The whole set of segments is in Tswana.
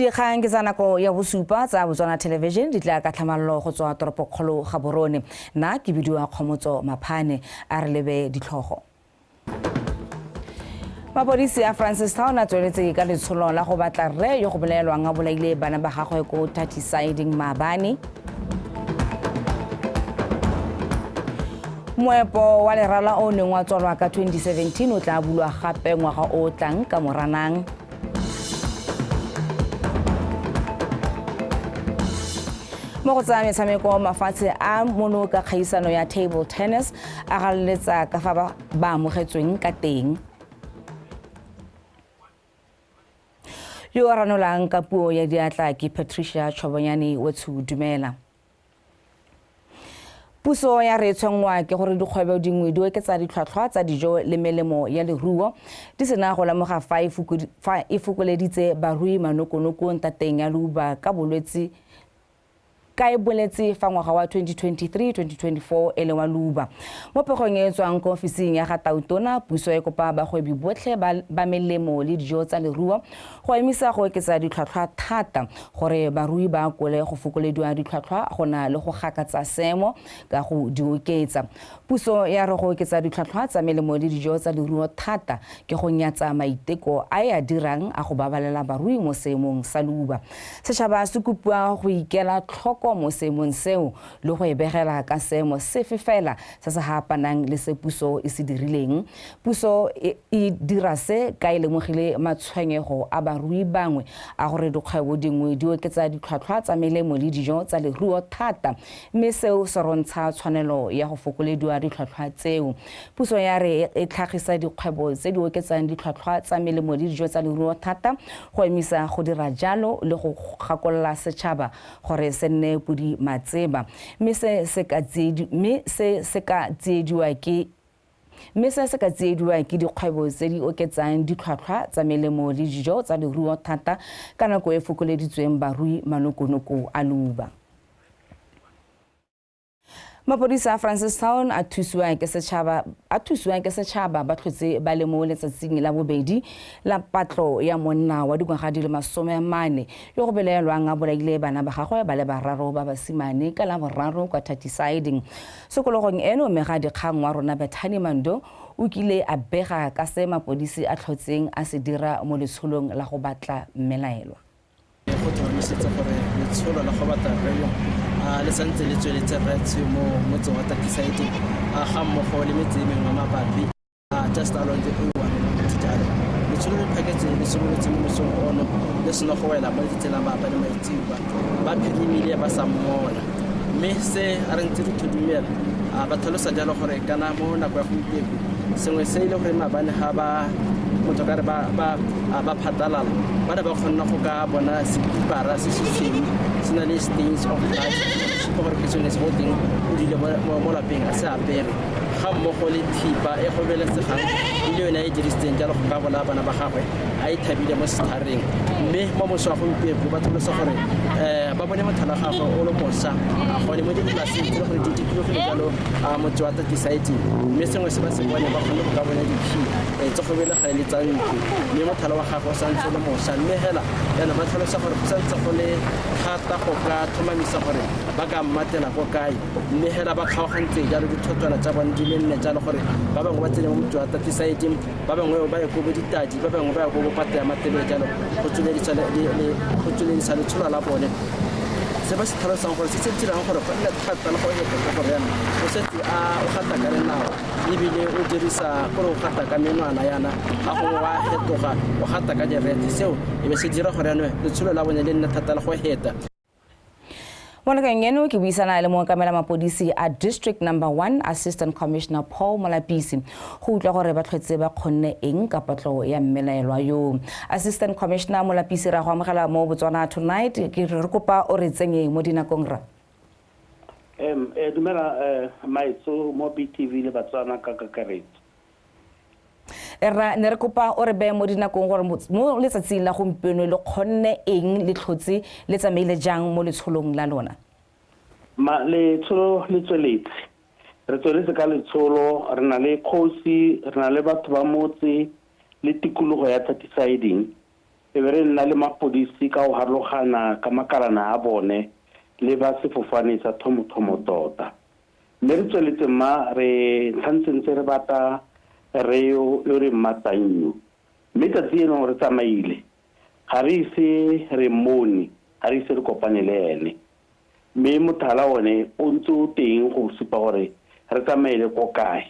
dikgang ke tsa nako ya bosupa tsa botswana television di tla ka tlhamalolo go tswa toropokgolo gaborone nna ke bidiwa kgomotso maphane a re lebe ditlhogo mapodisi a francistown a tsweletse ka letsholo la go batla rre yo go bolaelwang a bolaile bana ba gagwe ko tatisiding maabane moepo wa lerala o neng wa tswalwa ka 2017 o tla bulwa gape ngwaga o tlang ka moranang mo go tsaya metshameko mafatshe a mono ka kgaisano ya table tennis a raloletsa ka fa ba amogetsweng ka teng yo a ranolang ka puo ya diatla ke patricia tshwabonyane wetsho dumela puso ya re tshwenngwa ke gore dikgwebo dingwe di oketsa ditlhwatlhwa tsa dijo le melemo ya leruo di sena go lemoga fa e fokoleditse barui manokonoko ntateng ya leuba ka bolwetse ka e boletse fa ngwaga wa 2023-2024 e le wa luba. Mo pegong e e tswang ko ofising ya ga Tautona, puso e kopa bagwebi botlhe ba melemo le dijo tsa leruo go emisa go oketsa ditlhwatlhwa thata gore barui ba akole go fokolediwa ditlhwatlhwa go na le go gakatsa seemo ka go di oketsa. Puso ya re go oketsa ditlhwatlhwa tsa melemo le dijo tsa leruo thata ke go nyatsa maiteko a e a dirang a go babalela barui mo seemong sa luba. Setšhaba se kopiwa go ikela tlhoko mo seemong seo le go e begela ka seemo sefe fela se se haapanang le se puso e se dirileng. Puso e, e dira se ka e lemogile matshwenyego a barui bangwe a gore dikgwebo dingwe di oketsa ditlhwatlhwa tsa melemo le dijo tsa leruo thata mme seo se rontsha tshwanelo ya go fokolediwa ditlhwatlhwa tseo. Puso ya re e tlhagisa dikgwebo tse di oketsang ditlhwatlhwa tsa melemo le dijo tsa leruo thata go emisa go dira jalo le go gakolola setšhaba gore se nne bodimatseba mme se se ka tsiedi mme se se ka tsiediwa ke mme se se ka tsiediwa ke dikgwebo tse di oketsang ditlhwatlhwa tsa melemo le dijo tsa leruo thata ka nako e fokoleditsweng barui manokonoko a luba. mapodisa a francistown a thusiwang ke setšhaba a thusiwang ke setšhaba ba tlhotse ba le mo letsatsing la bobedi la patlo ya monna wa dingwaga di le masome a mane yo go belaelwang a bolaile bana ba gagwe ba le bararo ba basimane ka la boraro kwa tatisiding sekologong eno mme ga dikgang wa rona bethani mando o kile a bega ka se mapodisi a tlhotseng a se dira mo letsholong la go batla mmelaelwa go tlhomamisetsa gore letsholo la go batla rrelo a le santse le tsweletse retshe mo motseng wa takisaetse a ga mmogo le metse e mengwe mabapi a just along the owanjalo letsholo le phaketse le simolotse mo mosong ono le seno go wela mo ditsela maapa le maitsiwa ba phirimile ba sa mmola mme se a re ntse re thudumela a ba tlhalosa jalo gore kana mo nako ya gompieko sengwe se e le gore mabane ga ba motho kare ba ba ba phatalala ba ne ba kgonna go ka bona separa se se tshweu se na le stains of blood supa gore ke sone se go teng o dile mo lapeng a se apere ga mmogo le thipa e gobelesegang e le yone a e dirisitseng jalo go ka bona bana ba gagwe a e thabile mo sethareng mme mo moso wa gompieko ba tlhalosa gore um ba bone mothalo gagwe o le mosa gone mo dipolaseng tse le gore di dikilogile jalo a motse wa thirty sites mme sengwe se ba se bone ba kgone go ka bona dikhi eh, tse go bele ga ele tsa ntlo mme motlhala wa gagwe o santse le mosa mme hela yana ba tlhalosa gore go santse go le thata go ka tlhomamisa gore ba ka mmatela ko kae mme hela ba kgaogantse jalo dithotola tsa bone di le nne jalo gore ba bangwe ba tsene mo motse wa thirty site ba bangwe ba ye ko bo ditadi ba bangwe ba ya ko bo pate ya matebele jalo go tsweledisa letshola la bone se ba se tlhalosang gore se se dirang gore go nne thata le go epe ka gore yana o setse a o gata ka lenao ebile o dirisa gore o gata ka menwana yana ga go wa fetoga o gata ka direte seo e be se dira gore yanong letsholo la bone le nne thata le go heta mo nakeng eno ke buisana le mookamela mapodisi a district number one assistant commissioner paul molapisi go utlwa gore ba tlhwetse ba kgonne eng ka potlo ya mmelaelwa yo assistant commissioner molapisi ra go amogela mo botswana tonight ke re kopa o re tsenye mo dinakong ra um eh, dumela um maetso mo btv le batswana ka kakaretso rra ne re kopa o re beye mo dinakong gore mo letsatsing la gompieno le kgonne eng le tlhotse le tsamaile jang mo letsholong la lona ma letsholo le tsweletse re tsweletse ka letsholo re na le kgosi re na le batho ba motse le tikologo ya thatisiding e be re nna le mapodisi ka go harologana ka makalana a bone le ba sefofane sa thomothomo tota Mme re tsweletse mma re ntlhantse ntse re bata re yo yo re mmatannyo. Mme tsatsi eno re tsamaile. Ga re ise re mmone, ga re ise re kopane le ene. Mme mothala one o ntse o teng go supa gore re tsamaele ko kae.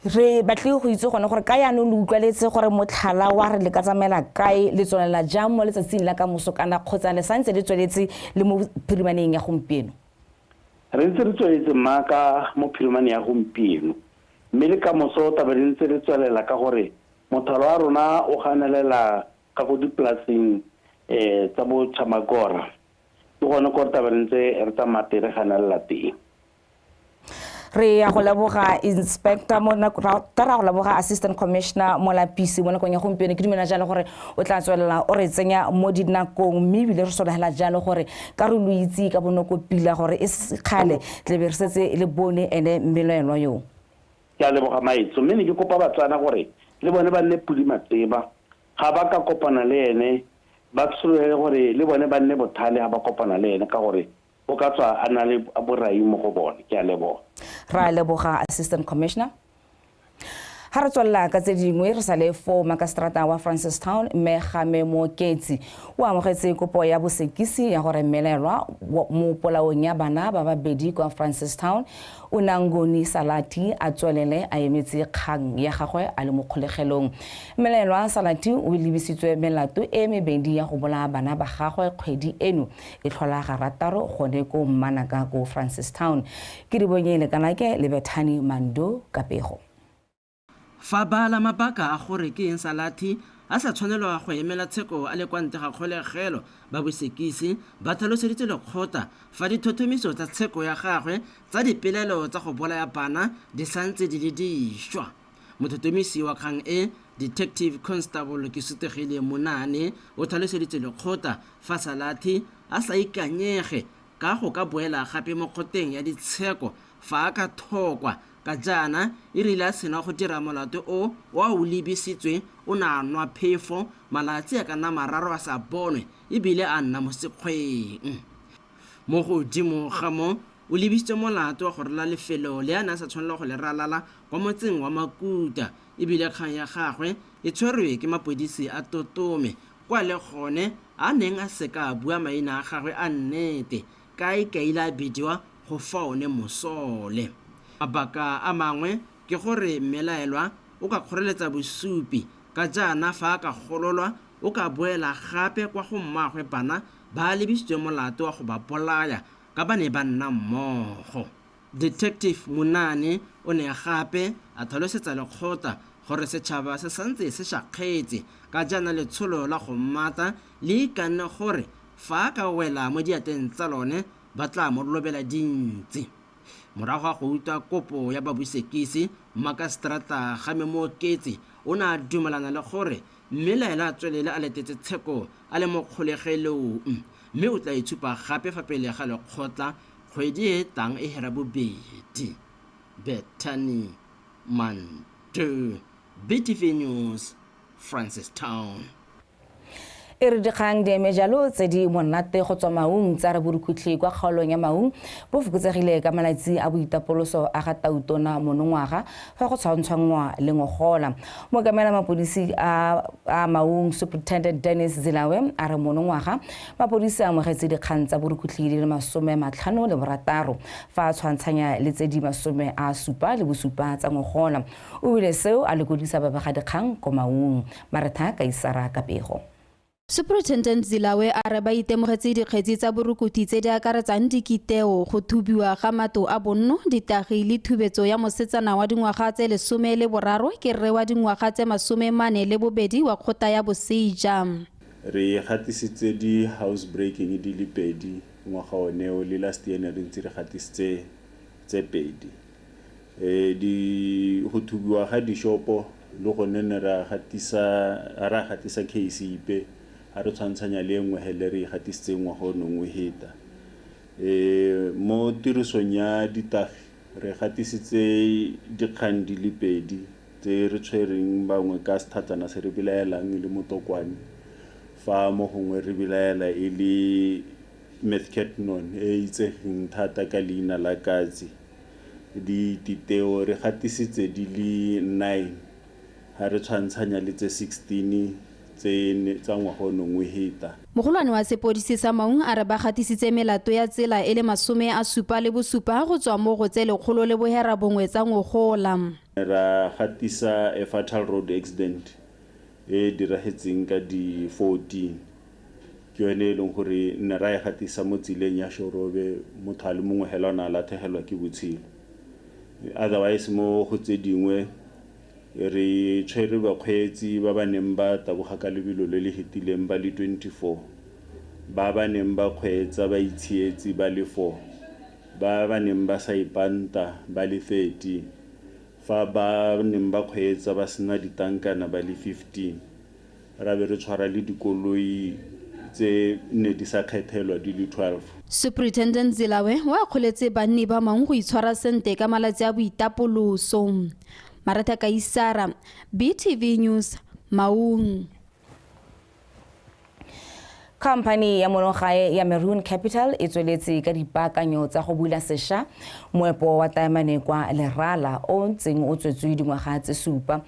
re batlile go itse gone gore ka yaanong le utlwaletse gore motlhala wa re le ka tsamaela kae le tswelela jang mo letsatsing la ka moso kana kgotsa le santse le tsweletse le mo phirimaneng ya gompieno re ntse re tsweletse maaka mo phirimane ya gompieno mme le ka moso taba re ntse re tswelela ka gore mothalo wa rona o ganelela ka go dipolaseng um tsa bo chamagora ke gone gore taba re ntse re tsamaya teng re ganelela teng re ya go leboga inspector mo ta ra go leboga assistant commissioner mo lapisi mo nakong ya gompieno ke dumela jalo gore o tla tswelela o re tsenya mo dinakong mme ebile re solegela jalo gore ka re lo itse ka bonoko pila gore e se kgale tlebe re setse le bone ene mmelaelwa yo ke a leboga maetso mme ne ke kopa batswana gore le bone ba nne pudi matseba ga ba ka kopana le ene ba tshololele gore le bone ba nne bothale ga ba kopana le ene ka gore o ka tswa a na le borai mo go bone. Ke a leboga. Re a leboga, Assistant Commissioner. Ga re tswelela ka tse dingwe re sa le foo makaseterata wa Francistown mme Game Mooketsi o amogetse kopo ya bosekisi ya gore mmelelwa mo polaong ya bana ba babedi kwa Francistown o Nangoni Salati a tswelele a emetse kgang ya gagwe a le mo kgolegelong. Mmelelwa Salati o lebisitswe melato e mebedi ya go bolaya bana ba gagwe kgwedi eno E tlhola garataro gone ko Mmanaka ko Francistown. Ke di bonye Lekanake le Bethani Mando ka pego. Fa bala mabaka a gore ke eng Salathi a sa tshwanelwa go emela tsheko a le kwa ntle ga kgolegelo. Ba Bosekisi ba tlhaloseditse lekgotla fa dithothomiso tsa tsheko ya gagwe tsa dipelaelo tsa go bolaya bana di santse di le dišwa. Mothotomisi wa kgang e, Detective Constable Kesutegile Monane o tlhaloseditse lekgotla fa Salathe a sa ikanyege ka go ka boela gape mo kgoteng ya ditsheko fa a ka thokwa ka jaana e rile a sena go dira molato o o a o lebisitswe o ne a nwa phefo malatsi a ka nna mararo a sa bonwe e bile a nna mo sekgweng. Mo godimo ga moo, o lebisitswe molato wa go ralala lefelo le a ne a sa tshwanela go le ralala kwa motseng wa Makuta e bile kgang ya gagwe e tshwerwe ke mapodisi a Totome kwa le gone a neng a se ka a bua maina a gagwe a nnete ka a ikaile a bidiwa go fa one mosole. Mabaka a mangwe ke gore mmelaelwa o ka kgoreletsa bosupi ka jaana fa a ka gololwa o ka boela gape kwa go mmaagwe bana ba lebisitswe molato wa go ba bolaya ka ba ne ba nna mmogo. Detective Munane o ne gape a tlhalosetsa lekgotla gore setšhaba se santse se shakgetse ka jaana letsholo la go mmata le ikanne gore fa a ka wela mo diatleng tsa lone ba tla mo lobela dintsi. Morago ga go utlwa kopo ya babusekisi, Mmakaseterata Kgame Mooketsi o ne a dumelana le gore Mme laela a tswelele a letetse tsheko a le mo kgolegelong, mme o tla e tshupa gape fa pele ga lekgotla kgwedi e e tlang e hera bobedi. Bethany Mantu, BTV News, Francistown. E re dikgang di eme jalo, tse di monate go tswa Maung tsa re borukhutlhi kwa kgaolong ya Maung bo fokotsegile ka malatsi a boitapoloso a ga Tautona monongwaga fa go tshwantshwanngwa le ngogola mookamela mapodisi a a maung superintendent dennis zilawe a re monongwaga mapodisi a amogetse dikgang tsa borukhutlhi di le masome matlhano le borataro fa a tshwantshanya le tse di masome a supa le bosupa tsa ngogola o bile seo a lekodisa babegadikgang ko maung maretha kaisara kapego Superintendent Zilawe a re ba itemogetse dikgetsi tsa borukuthi tse di akaretsang dikiteo, go thubiwa ga mato a bonno, ditagi le thubetso ya mosetsana wa dingwaga tse lesome le boraro ke rre wa dingwaga tse masome mane le bobedi wa kgota ya boseja. Re gatisitse di house breaking di le pedi ngwaga oneo le last year ne re ntse re gatisitse tse pedi. Di go thubiwa ga dishopo le gone ne ra gatisa ga ra gatisa case ipe ga re tshwantshanya le e nngwe he le re igatisitseng ngwaga o nong o heta e mo tirisong ya ditagi re gatisitse dikgang di le pedi tse re tshwereng bangwe ka sethatsana se re belaelang e le motokwane fa mo gongwe re belaela e le Methcatnon, e e itsegeng thata ka leina la Katsi. Dititeo re gatisitse di le nine ha re tshwantshanya le tse 16 tse tsa ngwaga o neng o heta. Mogolwane wa sepodisi sa Maun a re ba gatisitse melato ya tsela e le masome a supa le bosupa go tswa mo go tse lekgolo le bohera bongwe tsa ngogola. Ra gatisa a fatal road accident e e diragetseng ka di 14. Ke yone e leng gore ne ra e gatisa mo tseleng ya Shorobe, motho a le mongwe hela o ne a latlhegelwa ke botshelo. Otherwise mo go tse dingwe re tshwere bakgweetsi ba ba neng ba taboga ka lebelo le le hetileng ba le 24, ba ba neng ba kgweetsa ba itshietse ba le 4, ba ba neng ba sa ipanta ba le 13, fa ba neng ba kgweetsa ba sena ditankana ba le 15. Ra be re tshwara le dikoloi tse nne di sa kgethelwa di le 12. Superintendent Zilawe o akgoletse banni ba mang go itshwara sente ka malatsi a boitapoloso. Maratha Kaisara, BTV News, Maun. Khamphani ya monogae ya Maroon Capital e tsweletse ka dipaakanyo tsa go bula sesha moepo wa taemane kwa Lerala o ntseng o tswetswe dingwaga tse supa.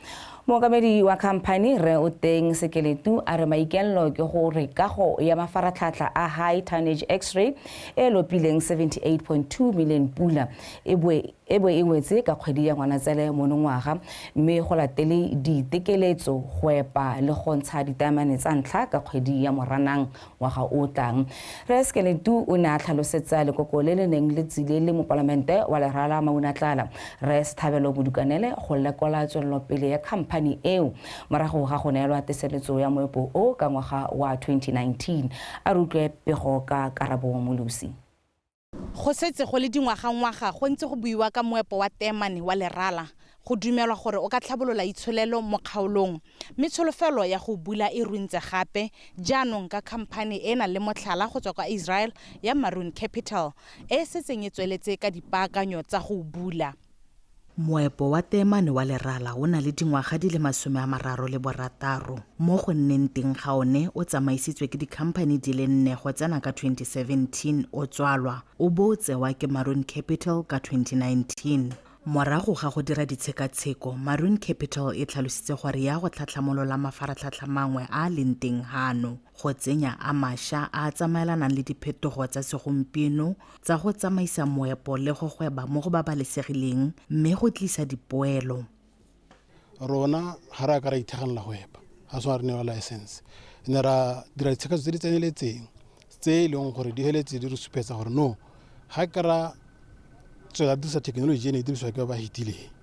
Mookamedi wa khamphani Rre Oteng Sekeletu a re maikelelo ke gore kago ya mafaratlhatlha a high tonnage x-ray e lopileng 78.2 million pula e boe e bo e wetse ka kgwedi ya Ngwanatsele monongwaga mme go latele diitekeletso, go epa le go ntsha ditaemane tsa ntlha ka kgwedi ya Moranang ngwaga o o tlang. Rre Skeletu o ne a tlhalosetsa lekoko le le neng le tsile le mopalamente wa Lerala Maunatlala, Rre Sthabelo Modukanele go lekola tswelelopele ya khamphani eo morago ga go neelwa teseletso ya moepo o ka ngwaga wa 2019. A re utlwe pego ka Karabo Molusi. Go setse go le dingwagangwaga go ntse go buiwa ka moepo wa teemane wa lerala, go dumelwa gore o ka tlhabolola itsholelo mo kgaolong. Mme tsholofelo ya go o bula e runtse gape jaanong ka khamphane e e nang le motlhala go tswa kwa Israel ya Maroon Capital e e setseng e tsweletse ka dipaakanyo tsa go o bula. Moepo wa teemane wa lerala o na le dingwaga di le masome a mararo le borataro. Mo go nneng teng ga one o tsamaisitswe ke dikhamphani di le nne go tsena ka 2017 o tswalwa, o bo o tsewa ke Maroon Capital ka 2019. Morago ga go dira ditshekatsheko, Maroon Capital e tlhalositse gore ya go tlhatlhamolola mafaratlhatlha mangwe a a leng teng gano. go tsenya a masha a a tsamaelanang le diphetogo tsa segompieno tsa go tsamaisa moepo le go gweba mo go babalesegileng mme go tlisa dipoelo rona ga re a ka ra ithekganela go epa ga tshwana re newa license ne ra dira ditshekatso tse di tseneletseng tse e leng gore di feletse di re supetsa gore no ga ke ra tswela dirisa thekenoloji e ne e dirisiwa ke ba ba fetileng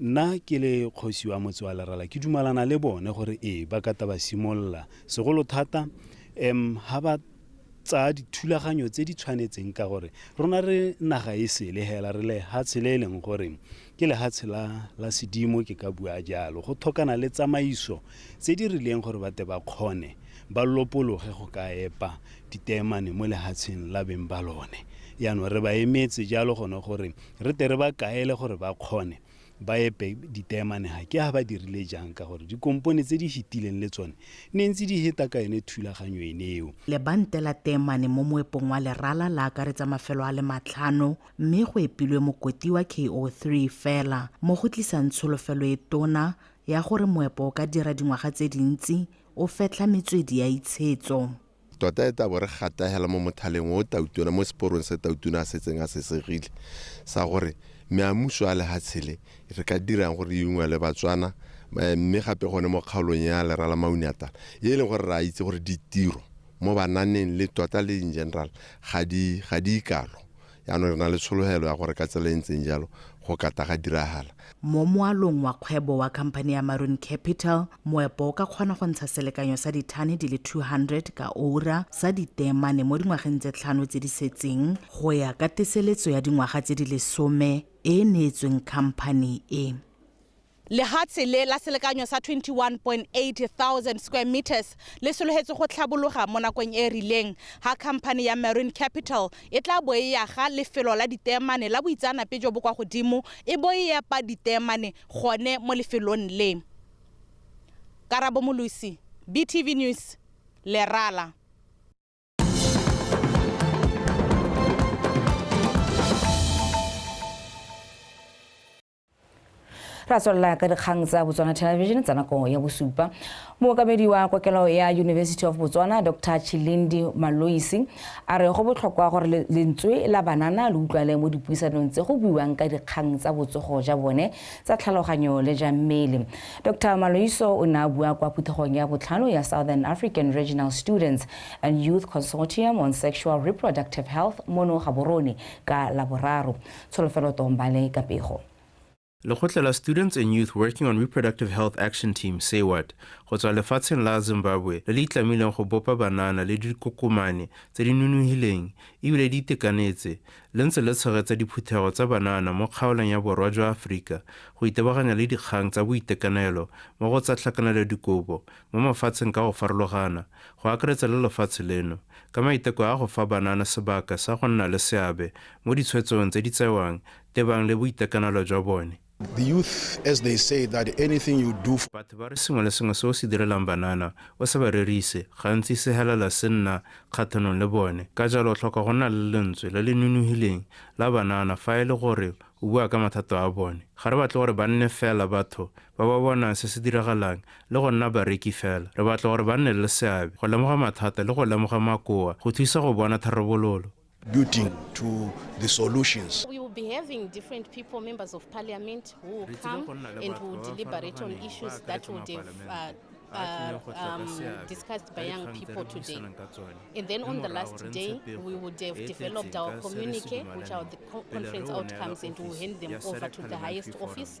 Nna ke le kgosi wa motse wa Lerala ke dumalana le bone gore ee ba kata ba simolola segolo thata um ha ba tsaya dithulaganyo tse di tshwanetseng ka gore rona re naga e sele hela re lehatshe le e leng gore ke lehatshe la la sedimo ke ka bua jalo go thokana le tsamaiso tse di rileng gore bate ba kgone ba lopologe go ka epa diteemane mo lehatsheng la beng ba lone yaanong re ba emetse jalo gone gore re te re ba kaele gore ba kgone ba epe diteemane ga ke ga ba dirile jang ka gore dikompone tse di fetileng le tsone ne ntse di heta ka yone thulaganyo ene eo lebante la teemane mo moepong wa lerala la akaretsa mafelo a le matlhano mme go epilwe mokoti wa ko3 fela mo go tlisang tsholofelo e tona ya gore moepo o ka dira dingwaga tse dintsi o fetlha metswedi ya itshetso Tota e tabo re gatahela mo mothaleng o tautona mo seporong se tautona a setseng a sesegile sa gore meamuso a lehatshele re ka dirang gore e ungwe le batswana eh, mme gape gone mo kgaolong ya lera la mauniatala e e leng gore re a itse gore ditiro mo bananeng le tota le in general ga di ga di ikalo Jaanong re na le tshologelo ya gore ka tsela e ntseng jalo go kata ga diragala. Mo moalong wa kgwebo wa khamphane ya Maroon Capital, moepo o ka kgona go ntsha selekanyo sa dithane di le 200 ka oura sa diteemane mo dingwageng tse tlhano tse di setseng, go ya ka teseletso ya dingwaga tse di lesome e e neetsweng khamphane e. Lehatshe le la selekanyo sa 21.800 square metres le sologetswe go tlhabologa mo nakong e e rileng ha khamphane ya Marine Capital e tla bo e yaga lefelo la diteemane la boitseanape jo bo kwa godimo e bo e epa diteemane gone mo lefelong le. Karabo Molosi, BTV News, Lerala. ra tswelela ka dikgang tsa botswana television tsa nako ya bosupa mookamedi wa kokelo ya university of botswana dr chilindi maloisi a re go botlhokwa gore lentswe la banana le utlwale mo dipuisanong tse go buiwang ka dikgang tsa botsogo ja bone tsa tlhaloganyo le ja mmele dr maloiso o ne a bua kwa phuthegong ya botlhano ya southern african regional students and youth consortium on sexual reproductive health mono gaborone ka laboraro Tsholofelo Tombale ka pego. Lekgotla la Students and Youth Working on Reproductive Health Action Team, SAYWAT, go tswa lefatsheng la Zimbabwe le le itlamileng go bopa banana le dikokomane tse di nonogileng ebile di itekanetse le ntse le tshegetsa diphuthego tsa banana mo kgaolong ya borwa jwa Aforika go itebaganya le dikgang tsa boitekanelo mo go tsa tlhakanelo dikobo mo mafatsheng ka go farologana, go akaretsa le lefatshe leno, ka maiteko a go fa banana sebaka sa go nna le seabe mo ditshwetsong tse di tsewang tebang le boitekanelo jwa bone. The youth as they say that anything you do for. Batho ba re sengwe le sengwe se o se direlang banana, o sa ba rerise, gantsi se helela se nna kgatlhanong le bone. Ka jalo o tlhoka go nna le lentswe le le nonogileng la banana fa e le gore o bua ka mathata a bone. Ga re batle gore ba nne fela batho ba ba bonang se se diragalang le go nna bareki fela re batla gore ba nne le seabe go lemoga mathata le go lemoga makoa go thusa go bona tharabololo building to the solutions be having different people, members of parliament, who will come and who will deliberate on issues that would have uh, uh, um, discussed by young people today. And then on the last day, we would have developed our communique, which are the co conference outcomes, and we'll hand them over to the highest office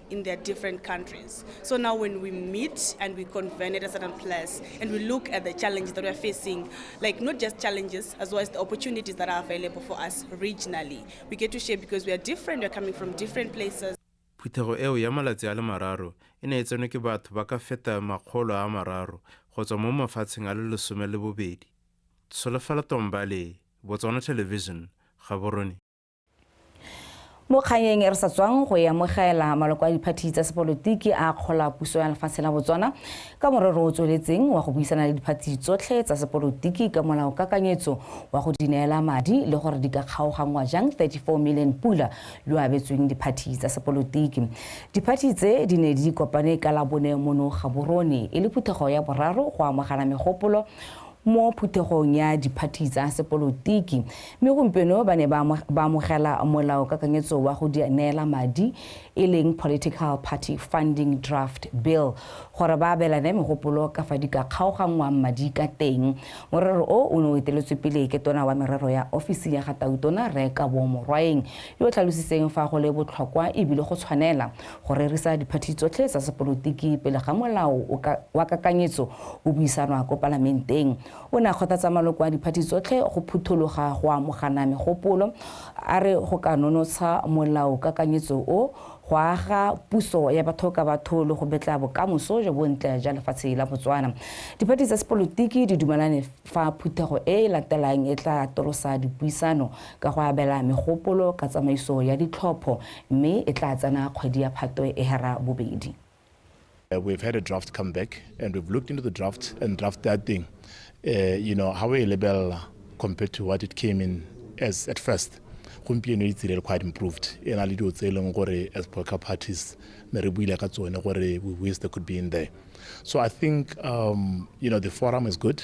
in their different countries. So now when we meet and we convene at a certain place and we look at the challenges that we're facing, like not just challenges, as well as the opportunities that are available for us regionally, we get to share because we are different, we're coming from different places. phuthego eo ya malatsi a le mararo e ne e tsenwe ke batho ba ka feta makgolo a mararo go tswa mo mafatsheng a le lesome le bobedi solofela tombale botswana television gaborone mo kganyeng e re sa tswang go e amogela maloko a diphathi tsa sepolotiki a kgola puso ya lefatshe la botswana ka morero o tsweletseng wa go buisana le diphathi tsotlhe tsa sepolotiki ka molao kakanyetso wa go di neela madi le gore di ka kgaoganngwa jang 34 million pula yo abetsweng diphathi tsa sepolotiki diphathi tse di ne di kopane ka labone mono gaborone e le phuthego ya boraro go amogana megopolo mo phuthegong ya diphathi tsa sepolotiki mme gompieno ba ne ba amogela molaokakanyetso wa go di neela madi e leng political party funding draft bill gore ba abelane megopolo ka fa di ka kgaoganngwang madi ka teng morero o o ne o eteletswe pele ke tona wa merero ya ofisi ya ga tautona rre kabo morwaeng yo o tlhalositseng fa go le botlhokwa ebile go tshwanela go rerisa diphathi tsotlhe tsa sepolotiki pele ga molao wa kakanyetso o buisanwa ko palamenteng o ne a kgothatsa maloko a diphathi tsotlhe go phuthologa go amogana megopolo a re go ka nonotsha molao kakanyetso o go aga puso ya batho ka batho le go betla bokamoso jo bontle ja lefatshe la botswana diphathi tsa sepolotiki di dumelane fa phuthego e e latelang e tla atolosa dipuisano ka go abela megopolo ka tsamaiso ya ditlhopho mme e tlaa tsena kgwedi ya Phatwe e hara bobedi. We've had a draft come back and we've looked into the draft and draft ya teng uh, you know ha o e lebelela compared to what it came in as at first gompieno e tsile quite improved e na le dilo tse e leng gore as political parties ne re buile ka tsone gore we wish they could be in there so i think um, you know the forum is good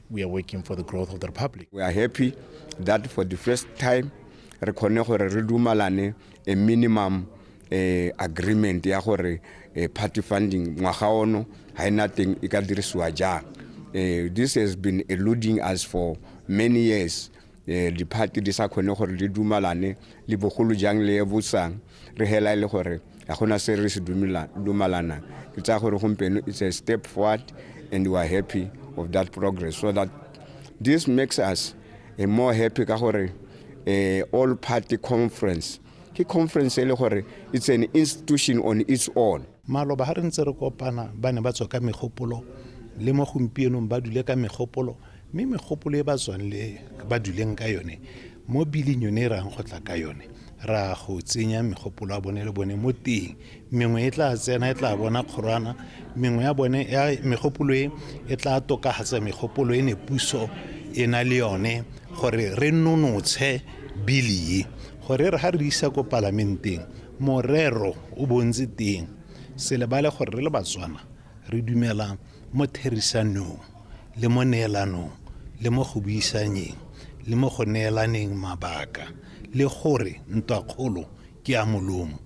We are working for the growth of the Republic. We are happy that for the first time re khone gore re dumalane a minimum eh, agreement ya gore eh, party funding ngwaga ono ha ina teng e ka dirisiwa jang eh, this has been eluding us for many years eh, di-party di sa khone gore di dumalane le bogolo jang le e bosang re hela e le gore ga gona se re se dumalanang ke tsaya gore gompieno it's a step forward and we are happy of that progress so that this makes us a more happy ka gore eh, all party conference ke conference e le gore it's an institution on its own Maloba ha re ntse re kopana ba ne ba tswa ka megopolo le mo gompienong ba dule ka megopolo mme megopolo e ba tswang le ba duleng ka yone mo biling yone e rayang go tla ka yone ra go tsenya megopolo ya bone le bone mo teng mengwe e tla tsena e tla bona kgorwana mengwe ya bone ya megopolo e e tla tokagatsa megopolo e ne puso e na le yone gore re nonotshe bili e gore re ga re isa ko palamenteng morero o bontse teng se lebale gore re le batswana re dumela mo therisanong le mo neelanong le mo go buisanyeng le mo go neelaneng mabaka le gore ntwakgolo ke ya molomo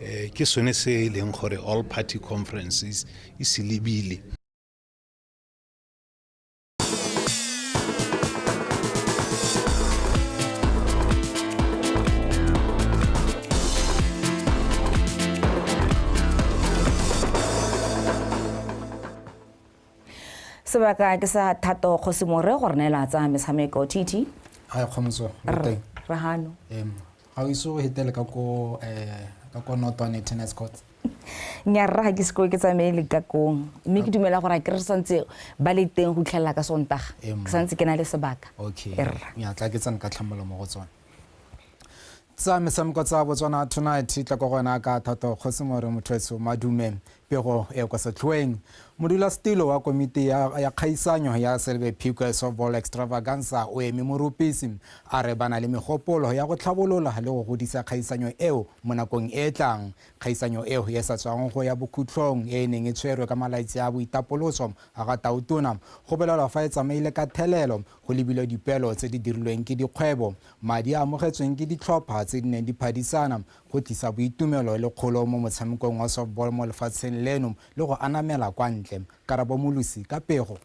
um ke sone se e leng gore all party conferences e se lebile sebaka ke sa thato kgosimore gore neela tsaya metshameko tt re gano ga o ise o hetele ka ko eh, ka ko notwane tennis court nya rra ga ke sekoe ke tsamaye le kakong mme ke dumela gore a ke re santse ba le teng go itlhelela ka sontaga Ee, mma. ke santse ke na le sebaka okay Ee, rra. nya tla ke tsane ka tlhamolo mo go tsone tsa metshameko tsa botswana tonight tla ko gona ka thato kgosi more motho etso madume Pego e kwa setlhoeng. Modulasetilo wa komiti ya, ya kgaisanyo ya Silver Piquet Softball Extravaganza o eme morupisi, a re ba na le megopolo ya go tlhabolola le go godisa kgaisanyo eo mo nakong e e tlang. Kgaisanyo eo e sa tswang go ya bokhutlhong e e neng e tshwerwe ka malaitsi a boitapoloso a ga Tautona, go belelwa fa e tsamaile ka thelelo, go lebilwe dipeelo tse di dirilweng ke dikgwebo, madi a amogetsweng ke ditlhopha tse di neng di phadisana, go tlisa boitumelo le kgolo mo motshamekong wa softball mo lefatsheng leno le go anamela kwa ntle. Karabo Molusi ka pego.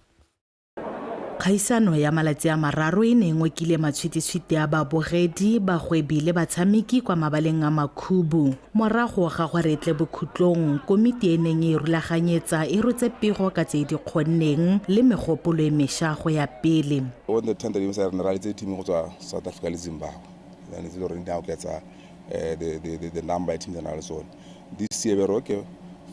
Kgaisano ya malatsi a mararo e ne e ngokile matshwititshwiti a babogedi, bagwebi le batshameki kwa mabaleng a Makhubu. Morago ga gore e tle bokhutlong, komiti e neng e rulaganyetsa e rotse pego ka tse e di kgonneng le megopolo e mesha go ya pele. Go ne thata di re ne ra letse team go tswa South Africa le Zimbabwe. Ene tse le gore di a oketsa uh, the, the, the, the number ya teams na le tsone this year bere okay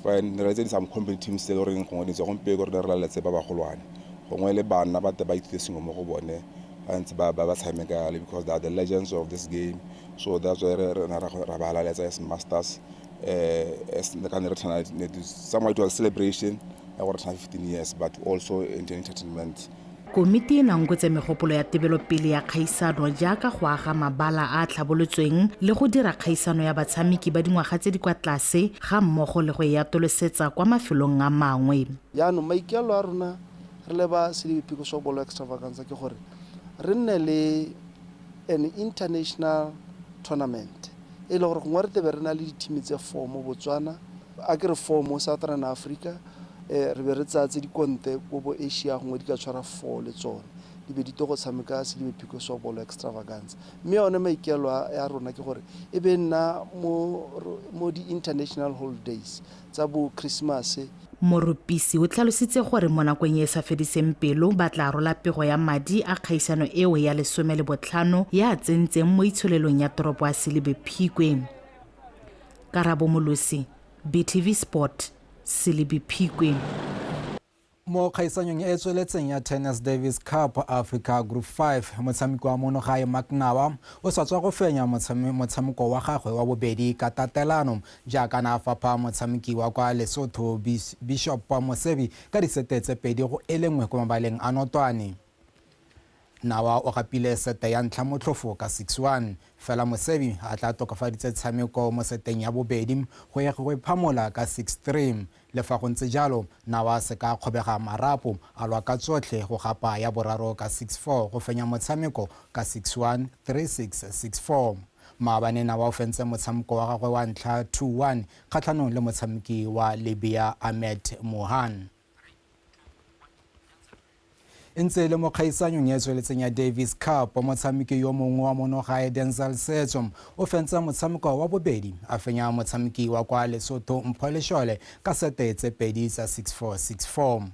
fine re tse di some company teams tse goreng gongwe di tswa gompe gore re laletse ba bagolwane gongwe le bana ba te ba ithute sengwe mo go bone ba ntse ba ba tshameka yale because they are the legends of this game so that's why re na ra ba laletsa as masters eh as ka ne re tshwana somewhat to a celebration ya gore tshwana 15 years but also entertainment Komiti e nangwetse megopolo ya tebelopele ya kgaisano jaaka go aga mabala a a tlhabolotsweng le go dira kgaisano ya batshameki ba dingwaga tse di kwa tlase ga mmogo le go e atolosetsa kwa mafelong a mangwe. Jaanong maikaelelo a rona re le ba Selebi Pickleshaw Bolo Extravaganza ke gore re nne le an international tournament e le gore gongwe re tlebe re na le dithimi tse four mo Botswana, A ke re four mo Southern Africa, re be re tsaya tse di konte ko bo Asia gongwe di ka tshwara four le tsone, di be di to go tshameka Sedibe Phiko Sobolo Extravaganza. Mme yone maikelo a ya rona ke gore e be nna mo mo di-international holidays tsa bo Christmas. Morupisi o tlhalositse gore mo nakong e e sa fediseng pelo ba tla rola pego ya madi a kgaisano eo ya lesome le botlhano ya a tsentseng mo itsholelong ya toropo ya Sedibe Phikwe. Karabo Molosi, BTV Sport, Selebi Phikwe. Mo kgaisanyong e e tsweletseng ya Tennis Davis Cup Africa Group 5, motshameki wa mono gae Maknawa o sa tswa go fenya motshameko wa gagwe wa bobedi ka tatelano jaaka na a fapha motshameki wa kwa Lesotho Bishop Mosebi ka disete tse pedi go e lengwe kwa mabaleng a notwane. Nawa o gapile sete ya ntlha motlhofo ka six one, fela Mosebi a tla tokafaditse tshameko mo seteng ya bobedi go ya go e phamola ka six three. Le fa go ntse jalo, Nawa a se ka a kgobega marapo, a lwa ka tsotlhe go gapa ya boraro ka six four go fenya motshameko ka six one, three six, six four. Maabane Nawa o fentse motshamko wa gagwe wa ntlha two one kgatlhanong le motshameki wa Libya Ahmed Mohan. e ntse e le mo kgaisanyong e tsweletseng ya davis cup motshameki yo mongwe wa monogae denzel setso o fentse motshameko wa bobedi a fenya motshameki wa kwa lesotho mpho leshole ka sete tse pedi tsa 6464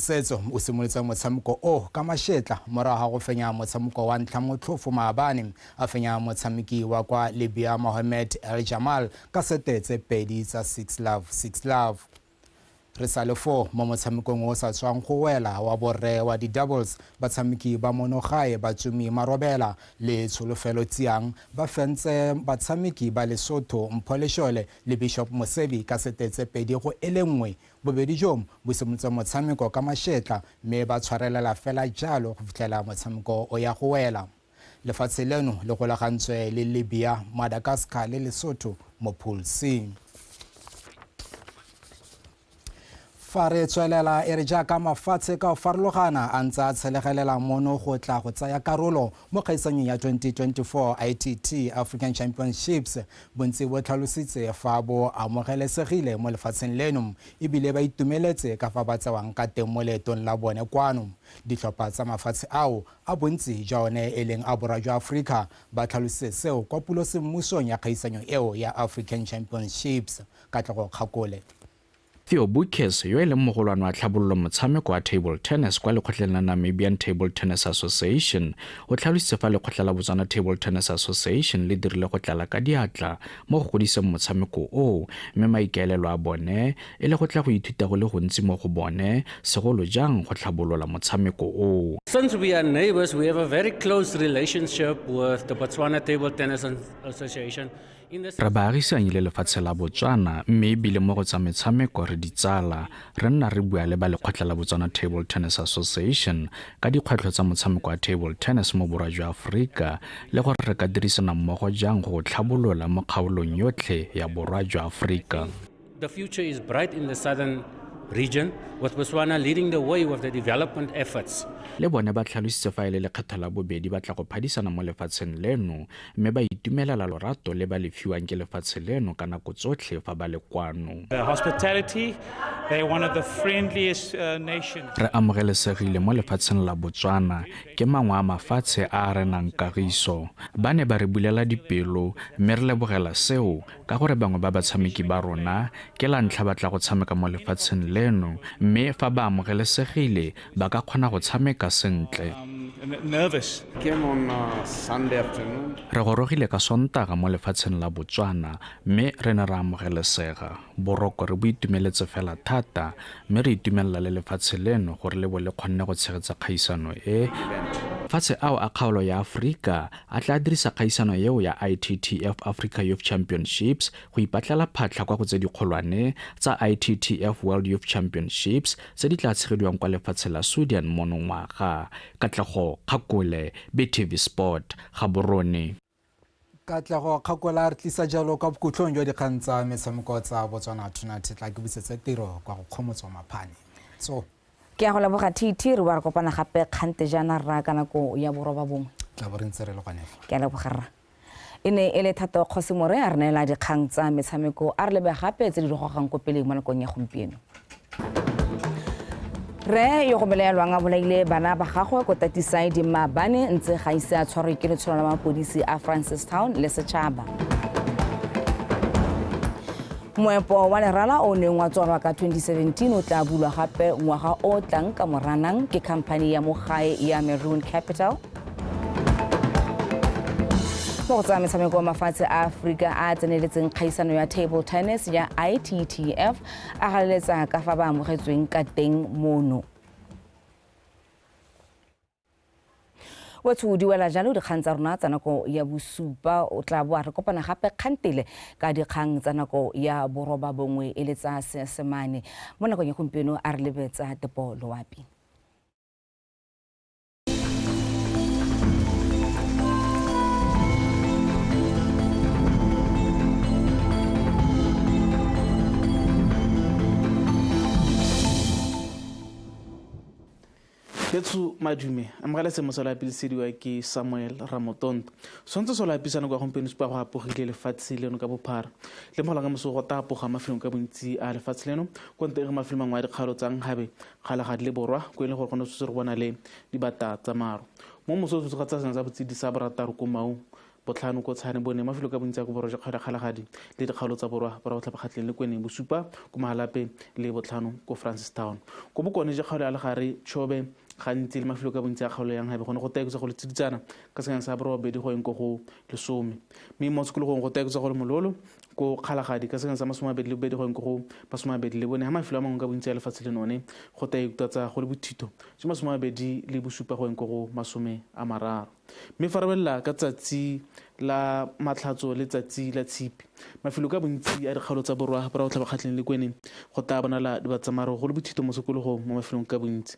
setso o simolotse motshameko o ka mashetla morago ga go fenya motshameko wa ntlha motlhofo maabane a fenya motshameki wa kwa libya mohammed el jamal ka sete tse pedi tsa 6 love 6 love Re sa le foo, mo motshamekong o o sa tswang go wela wa borre wa di-doubles, batshameki ba monogae Batsumi Marobela le Tsholofelo Tsiang ba fentse batshameki ba Lesotho Mpho Leshole le Bishop Mosebi ka sete tse pedi go e le nngwe. Bobedi joo bo simotse motshameko ka mašetla mme ba tshwarelela fela jalo go fitlhela motshameko o ya go wela. Lefatshe leno le golagantswe le Libya, Madagascar le Lesotho mo Pool C. fa re tswelela e re jaaka mafatshe ka go farologana a ntse a tshelegelela mono go tla go tsaya karolo mo kgaisanyong ya 2024 itt african championships bontsi bo tlhalositse fa bo amogelesegile mo lefatsheng leno ebile ba itumeletse ka fa ba tsewang ka teng mo leetong la bone kwano ditlhopha tsa mafatshe ao a bontsi jwa one e leng a borwa jwa Aforika, ba tlhalositse seo kwa pulosemmusong ya kgaisanyo eo ya African Championships, Katlego Kgakole. Theo Boekhuis, yo e leng mogolwane wa tlhabololo motshameko wa table tennis kwa lekgotleng la Namibian Table Tennis Association, o tlhalositse fa lekgotla la Botswana Table Tennis Association le dirile go tlala ka diatla mo go godiseng motshameko oo mme maikaelelo a bone e le go tla go ithuta go le gontsi mo go bone, segolo jang go tlhabolola motshameko o. Since we are neighbors, we have a very close relationship with the Botswana Table Tennis Association. Re baagisanyi le lefatshe la Botswana mme ebile mo go tsa metshameko re ditsala. Re nna re bua le ba lekgotla la Botswana Table Tennis Association ka dikgwetlho tsa motshameko wa table tennis mo borwa jwa Aforika le gore re ka dirisana mmogo jang go o tlhabolola mo kgaolong yotlhe ya borwa jwa Aforika. The future is bright in the southern region with Botswana leading the way with the development efforts. Le bone ba tlhalositse fa e le lekgetho la bobedi ba tla go phadisana mo lefatsheng leno mme ba itumelela lorato le ba le fiwang ke lefatshe leno ka nako tsotlhe fa ba le kwano. The hospitality, they're one of the friendliest uh, nations. Re amogelesegile mo lefatsheng la Botswana ke mangwe a mafatshe a a renang kagiso. Ba ne ba re bulela dipelo mme re lebogela seo Ka gore bangwe ba batshameki ba rona ke la ntlha ba tla go tshameka mo lefatsheng leno, mme fa ba amogelesegile ba ka kgona go tshameka sentle. Re gorogile ka Sontaga mo lefatsheng la Botswana mme re ne ra amogelesega. Boroko re bo itumeletse fela thata mme re itumelela le lefatshe leno gore le bo le kgonne go tshegetsa kgaisano e. Mafatshe ao a kgaolo ya Aforika a tla dirisa kgaisano eo ya ITTF Africa Youth Championships go ipatlela phatlha kwa go tse dikgolwane tsa ITTF World Youth Championships tse di tla tshegediwang kwa lefatshe la Sweden monongwaga. Katlego Kgakole, BTV Sport, Gaborone. Katlego Kgakola a re tlisa jalo kwa bokhutlong jwa dikgang tsa metshameko tsa Botswana Tonight tla ke busetse tiro kwa go kgomotswa maphane. So Ke a go leboga TT re wa re kopana gape kgante jaana rra ka nako ya boroba bongwe. Tla bo re ntse re le gone fa. Ke a leboga rra. E ne e le Thato Kgosimore a re neela dikgang tsa metshameko a re lebe gape tse di re gogang ko pele mo nakong ya gompieno. Re yo go belaelwang a bolaile bana ba gagwe ko Tatisaidi Maabane ntse ga ise a tshwarwe ke letsholo la mapodisi a Francistown le setšhaba. Moepo wa lerala o neng wa tswalwa ka 2017 o tla bulwa gape ngwaga o tlang ka moranang ke khamphani ya mo gae ya Maroon Capital. mo go tsaya metshameko wa mafatshe a aforika a tseneletseng kgaisano ya table tennis ya ittf a galeletsa ka fa ba amogetsweng ka teng mono wetsho di wela jalo dikgang tsa rona tsa nako ya bosupa o tla boa re kopana gape kgantele ka dikgang tsa nako ya boroba bongwe e le tsa seesemane mo nakong ya gompieno a re lebetsa tepo loapi Betsho madume, amogela semo se lo apilisediwa ke Samuel Ramotonto. Swantse se lo apisana kwa gompieno supa go apogile lefatshe leno ka bophara. Le mogola ka moso go ta apoga mafelong ka bontsi a lefatshe leno kwa nte e re mafelo mangwe a dikgalo tsa nkgabe kgala ga di le borwa ko e leng gore go ne tshwetse re bona le dibata tsa maro. Mo moso o tshwetse ga tsa sena tsa botsidisa borataro ko maung Botlhano ko Tshane, bone, mafelo ka bontsi a ko borwa jwa kgaolo ya Kgalagadi le dikgaolo tsa borwa borwa go tlhaphakgatleng le Kweneng, bosupa ko Mahalape le botlhano ko Francistown. Ko bokone jwa kgaolo ya Legare, Chobe, gantsi le mafelo ka bontsi a kgaolo ya Nghabe gone go taekotsa go le tsiditsana ka senyane sa borobabedi go yeng ko go lesome, mme mo tshikologong go taekotsa go le mololo ko Kgalagadi ka senyane sa masomabedi le bobedi go yeng ko go masomabedi le bone, ha mafelo a mangwe ka bontsi a lefatshe le none go taektatsa go le bothito jwa masomabedi le bosupa go yeng ko go masome a mararo. Mme fa re belela ka tsatsi la Matlhatso le tsatsi la Tshipi, mafelo ka bontsi a dikgaolo tsa borwa bo ra go tlhaba kgatlheng le kwene go tlaa bonala dibatsamaro go le bothito mo sekologong mo mafelong ka bontsi.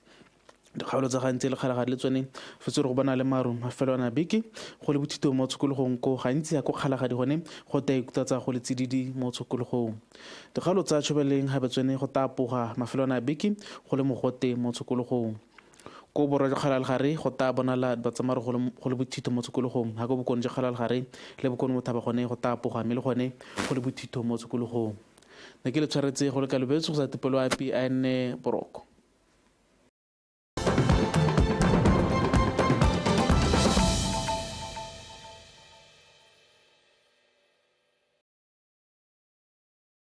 Dikgaolo tsa gantsi le kgalagadi le tsone fetse re go bona le maru mafelo ana beke go le bothito mo tshokologong ko gantsi ya ko kgalagadi gone go ta ikutatsa go le tsididi mo tshokologong. Dikgaolo tsa tshobeleng gabe tsone go tapoga mafelo ana beke go le mogote mo tshokologong. Ko borwa jwa Kgalal-gare go taa bonala Batsamaro go le, go le bothitho mo tshokologong, ha ko bokone jwa Kgalal-gare le bokone bothaba gone go taa poga mme le gone go le bothitho mo tshokologong. Ne ke le tshwaretse go le kalobetso go sa topelwa api a enne boroko.